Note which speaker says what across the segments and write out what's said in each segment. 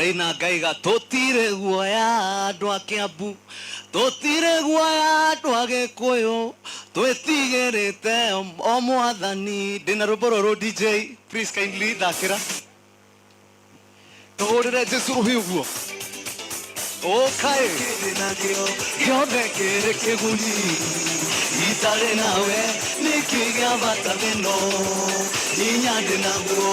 Speaker 1: Ngai na ngaiga tũtirĩ guoya andũ a Kĩambu, tũtirĩ guoya andũ a Gĩkũyũ, twĩtigĩrĩte o mwathani. Ndĩna rwĩmbo rũrũ DJ, please kindly thakĩra. Tũhũrĩre Jesu rũhĩ ũguo. Ũkaĩ. Kĩndĩ nakĩo gĩothe kĩrĩ kĩguni. Itarĩ nawe nĩkĩ gĩa bata thĩno. Hinya ndĩ naguo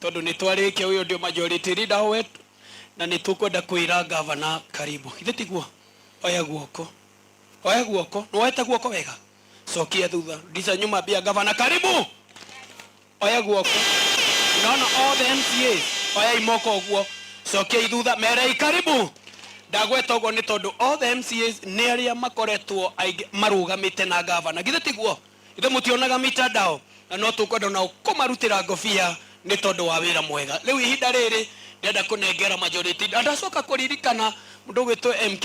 Speaker 1: Tondũ nĩ twarĩkia ũyũ ndio majority leader wetu na nĩ tũkwenda kwĩra governor karibu. Githĩ tiguo? Oya guoko. Oya guoko. Nĩ woete guoko wega? Cokia thutha. Rudisha nyuma ambia governor karibu. Oya guoko. Unaona all the MCAs. Oyai moko ũguo. Cokiai thutha. Merei karibu. Ndagweta ũguo nĩ tondũ all the MCAs nĩ arĩa makoretwo aingĩ marũgamĩte na governor. Githĩ tiguo? Githĩ mũtionaga mitandao? Na no tũkwenda o nao kũmarutĩra ngobia nĩ tondũ wa wĩra mwega. Rĩu ihinda rĩrĩ ndĩrenda kũnengera majority. Na ndacoka kũririkana mũndũ ũgwĩtwo MK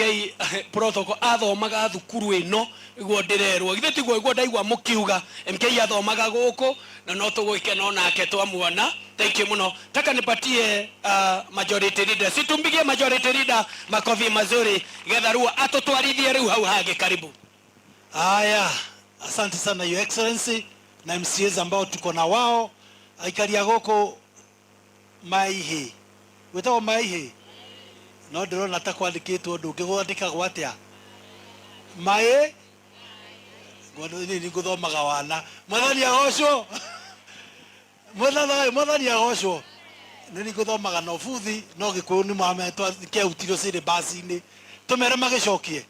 Speaker 1: Protocol athomaga thukuru ĩno, ũguo ndĩrerwo. Githĩ tiguo ũguo ndaigua mũkiuga? MK athomaga gũkũ na no tũgũgĩkena o nake twamuona. Thank you mũno. Taka nipatie majority leader. Si tumpigie majority leader makofi mazuri, Getha Ruo atũtwarithie rĩu hau hangĩ. Karibu. Haya,
Speaker 2: asante sana Your Excellency na MCAs ambao tuko na wao aikari a gũkũ Maihi gwĩtagwo Maihi no ndĩrona ta kwandĩkĩtwo ũndũ ũngĩ gwandĩkagwo atĩa maĩ ngũthomaga wana mwathani agocwo mwathani mwathani agocwo nĩ ngũthomaga no buthi no gĩkũyũ nĩ mwametwa kĩahutirwo syllabus-inĩ tũmere magĩcokie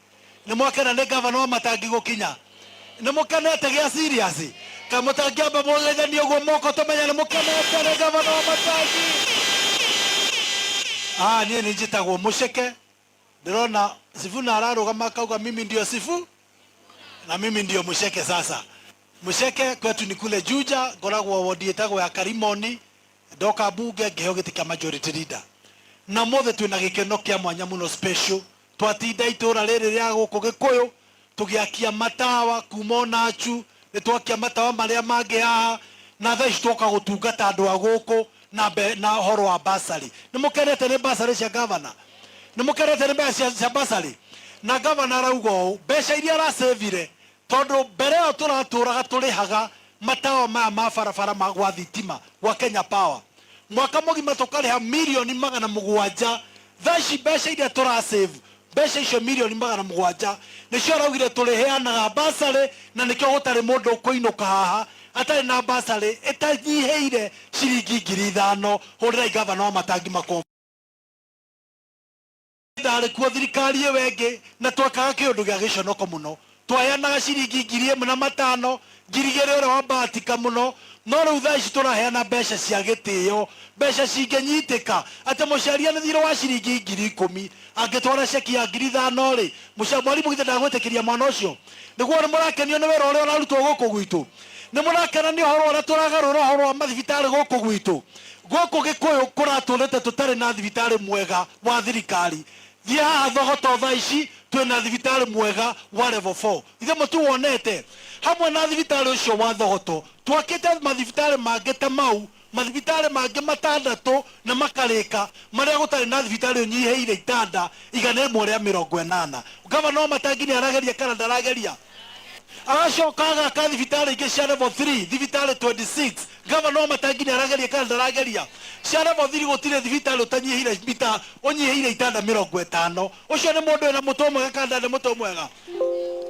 Speaker 2: nĩ mwakena nĩ ngavana wa matangi gũkinya nĩ mũkenete gĩa siriasi ka mũtangĩamba mũgethanie ũguo moko tũmenya nĩ mũkenete nĩ ngavana wa matangi ah niĩ nĩ njĩtagwo mũceke ndĩrona sifuna ararũgama akauga mimi ndio sifu na mimi ndio mũceke sasa mũceke kwetu ni kule juja ngoragwo wodi ĩtagwo ya karimoni ndoka mbunge ngĩheo gĩtĩ kĩa majority leader na mothe twĩna gĩkeno kĩa mwanya mũno special Twatinda itũũra rĩrĩ rĩa gũkũ Gĩkũyũ tũgĩakia matawa kuuma o Nachu, nĩ twakia matawa marĩa mangĩ haha, na thaa ici twoka gũtungata andũ a gũkũ na mbe, na ũhoro wa bursary. Nĩ mũkenete nĩ bursary cia Governor? Nĩ mũkenete nĩ mbeca cia bursary? Na Governor arauga ũũ, mbeca iria arasĩvire Tondũ mbere ĩyo tũratũũraga tũrĩhaga matawa maya ma barabara ma gwa thitima gwa Kenya Power, mwaka mũgima tũkarĩha mirioni magana mũgwanja, thaa ici mbeca iria tũra save, mbeca icio mirioni magana mũgwanja, nĩcio araugire tũrĩheanaga bursary na nĩkĩo gũtarĩ mũndũ ũkũinũka haha atarĩ na bursary ĩtanyihĩire ciringi ngiri ithano, hũrĩrai Gavana Wamatangi makobi. ndarĩ kuo thirikari ĩyo ĩngĩ na twakaga kĩũndũ gĩa gĩconoko mũno twayanaga ciringi ngiri ĩmwe na matano ngiri igĩrĩ ũrĩa wa mbahatika mũno no rĩu thaa ici tũraheana mbeca cia gĩtĩo mbeca cingĩnyitĩka atĩ mũciarianĩthirwo wa ciringi ngiri ikũmi angĩtwara ceki ya ngiri ithano rĩ mũca- mwarimũ githĩ ndagwĩtĩkĩria mwana ũcio nĩguo mũrakenio nĩ wĩra ũrĩa ũrarutwo gũkũ gwitũ Nĩ mũrakena nĩ ũhoro ũrĩa tũragarũra ũhoro wa mathibitarĩ gũkũ gwitũ? Gũkũ Gĩkũyũ kũratũrĩte tũtarĩ na thibitarĩ mwega wa thirikari. Thiĩ haha Thogoto thaa ici twĩ na thibitarĩ mwega wa level four. Githĩ mũtiwonete? Hamwe na thibitarĩ ũcio wa Thogoto, twakĩte mathibitarĩ mangĩ ta mau mathibitarĩ mangĩ matandatũ na makarĩka marĩa gũtarĩ na thibitarĩ ũnyihĩire itanda igana ĩmwe rĩa mĩrongo ĩnana. Ngavana Wamatangi nĩarageria kana ndarageria? Agacoka agaka thibitarĩ ingĩ cia level three, thibitarĩ 26. Ngavana Wamatangi nĩarageria kana ndarageria? Cia level three gũtirĩ thibitarĩ ũtanyihĩire mita ũnyihĩire itanda mĩrongo ĩtano. Ũcio nĩ mũndũ wĩna mũtwe mwega kana ndarĩ na mũtwe mwega?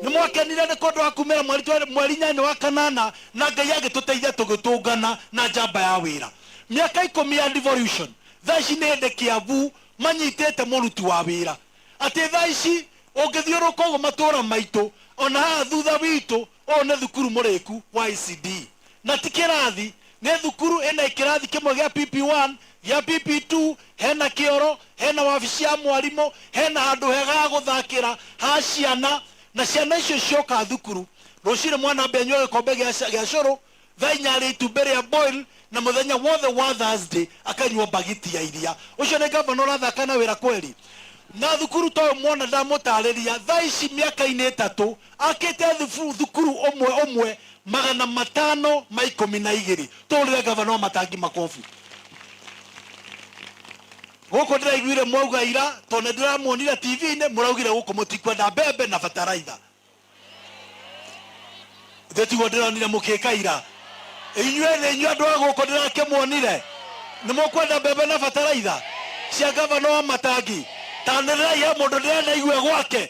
Speaker 2: Nĩ mwakenire nĩ kũndũ wa kuumĩra mweri twa mweri inyanya wa kanana na Ngai agĩtũteithia tũgĩtũngana na njamba ya wĩra. Mĩaka ikũmi ya devolution thaa ici nĩ hĩndĩ Kiambu manyitĩte mũruti wa wĩra. Atĩ thaa ici ũngĩthiũrũrũka ũguo matũũra maitũ ona haha thutha witũ ũyũ nĩ thukuru mũrĩku wa ECD. Na ti kĩrathi Nĩ thukuru ĩna ĩkĩrathi kĩmwe gĩa PP1, gĩa PP2, hena kĩoro, hena wabici ya mwarimũ, hena handũ hega ha gũthakĩra ha ciana, na ciana icio cioka thukuru, rũcinĩ mwana ambe anyue gĩkombe gĩa cũrũ, thaa inya arĩe itumbĩ rĩa boil, na mũthenya wothe wa Thursday akanyua mbagiti ya iria. Ũcio nĩ ngavana ũrathaka na wĩra kweri? Na thukuru ta ũyũ mwana ndamũtarĩria, thaa ici mĩaka-inĩ ĩtatũ, akĩte thukuru ũmwe ũmwe, Magana matano ma ikũmi na igĩrĩ tũhũrĩre ngavana Wamatangi makobi. Gũkũ ndĩraiguire mwauga ira tondũ nĩ ndĩramuonire TV-inĩ mũraugire gũkũ mũtikwenda mbembe na bataraitha. Ithe tiguo ndĩronire mũkĩka ira. Inyuĩ thĩ inyuĩ andũ a gũkũ ndĩrakĩmuonire nĩ mũkwenda mbembe na bataraitha cia ngavana Wamatangi. Tanĩrĩrai he mũndũ ndĩranaigue gwake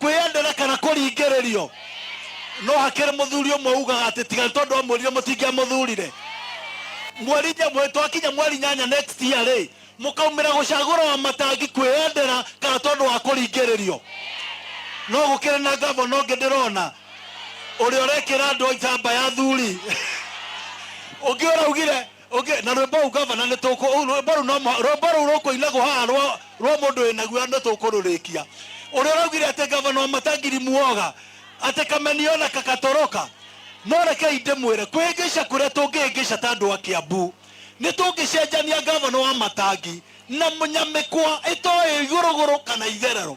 Speaker 2: Kwĩyendera kana kũringĩrĩrio. No hakĩrĩ mũthuri ũmwe ugaga atĩ tiga nĩ tondũ amwĩrire mũtingĩamũthurire. Mweri inya mweri twakinya mweri nyanya next year rĩ, mũkaumĩra gũcagũra Wamatangi kwĩyendera kana tondũ wa kũringĩrĩrio. No gũkĩrĩ na ngavana ũngĩ ndĩrona ũrĩa ũrekĩra andũ njamba ya athuri. Ũngĩ ũraugire. Ũngĩ, na rwĩmbo rũu gavana nĩ tũkũ, ũu rwĩmbo rũu no mũ- rwĩmbo rũu rũkũinagwo haha rwa rwa mũndũ wĩ naguo nĩ tũkũrũrĩkia. Ũrĩa ũraugire atĩ gavana wa Matangiri muoga, atĩ kameniona kagatoroka. No rekei ndĩmwĩre, kwĩhĩngĩca kũrĩa tũngĩhĩngĩca ta andũ a Kĩambu, nĩ tũngĩcenjania gavana wa Matangi na mũnyamĩkwa ĩtoĩ igũrũgũrũ kana itherero.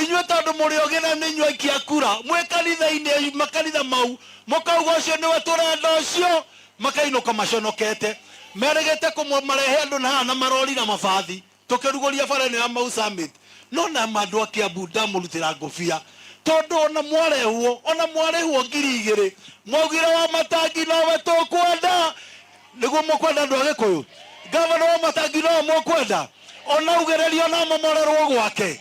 Speaker 2: inyuĩ tondũ mũrĩ ogĩ na nĩ inyuĩ aikia kura mwĩ kanitha-inĩ makanitha mau mũkauga ũcio nĩwe tũrenda ũcio makainũka maconokete merĩgĩte kũmwe marehe andũ na haha na marori na mabathi tũkĩrugũria bara ĩno ya Mau Summit no na andũ a Kiambu ndamũrutĩra ngũbia tondũ ona mwarehwo ona mwarĩhwo ngiri igĩrĩ mwaugire Wamatangi nowe tũkwenda nĩguo mũkwenda andũ a gĩkũyũ ngavana wa matangi no mũkwenda ona ugererio na momorerwo gwake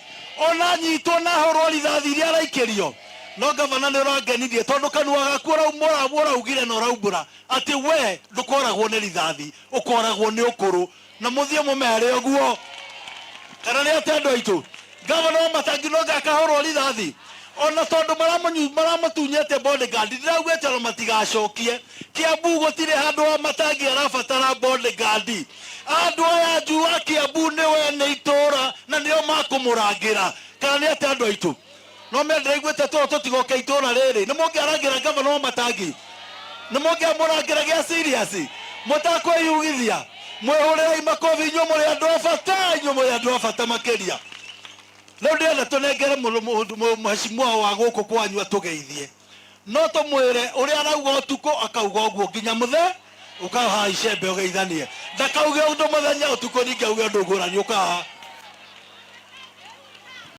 Speaker 2: ona anyitwo na ahũrwo rithathi iria araikĩrio no ngavana nĩ ũrangenirie tondũ kanua gaku ũraumũra ũraugire na ũraumbũra atĩ we ndũkoragwo nĩ rithathi ũkoragwo nĩ ũkũrũ na mũthiĩ mũmere ũguo kana nĩ atĩa andũ aitũ gavana wa matangi no gakahorwo rithathi ona tondũ maramanyu- maramatunyĩte bodyguard ndĩraugĩte ona matigacokie kiambu gũtirĩ handũ wa matangi arabatara bodyguard andũ aya njua kiambu nĩwe nĩ itũũra na nĩo makũmũrangĩra kana nĩ atĩa andũ aitũ No me ndĩraiguĩte tũũ tũtigoke itũũra rĩrĩ nĩ mũngĩarangĩra ngavana wa matangi nĩ mũngĩamũrangĩra gĩa serious mũtakwĩyugithia mwĩhũrĩrai makobi inyuĩ mũrĩ andũ a bata inyuĩ mũrĩ andũ a bata makĩria rĩu ndĩrenda tũnengere mũrũ- mũndũ- mũ- mheshimiwa wa gũkũ kwanyu atũgeithie no tũmwĩre ũrĩa arauga ũtukũ akauga ũguo nginya mũthe ũkaha icembe ũgeithanie ndakauge ũndũ mũthenya ũtukũ ningĩ auge ũndũ ngũrani ũkaha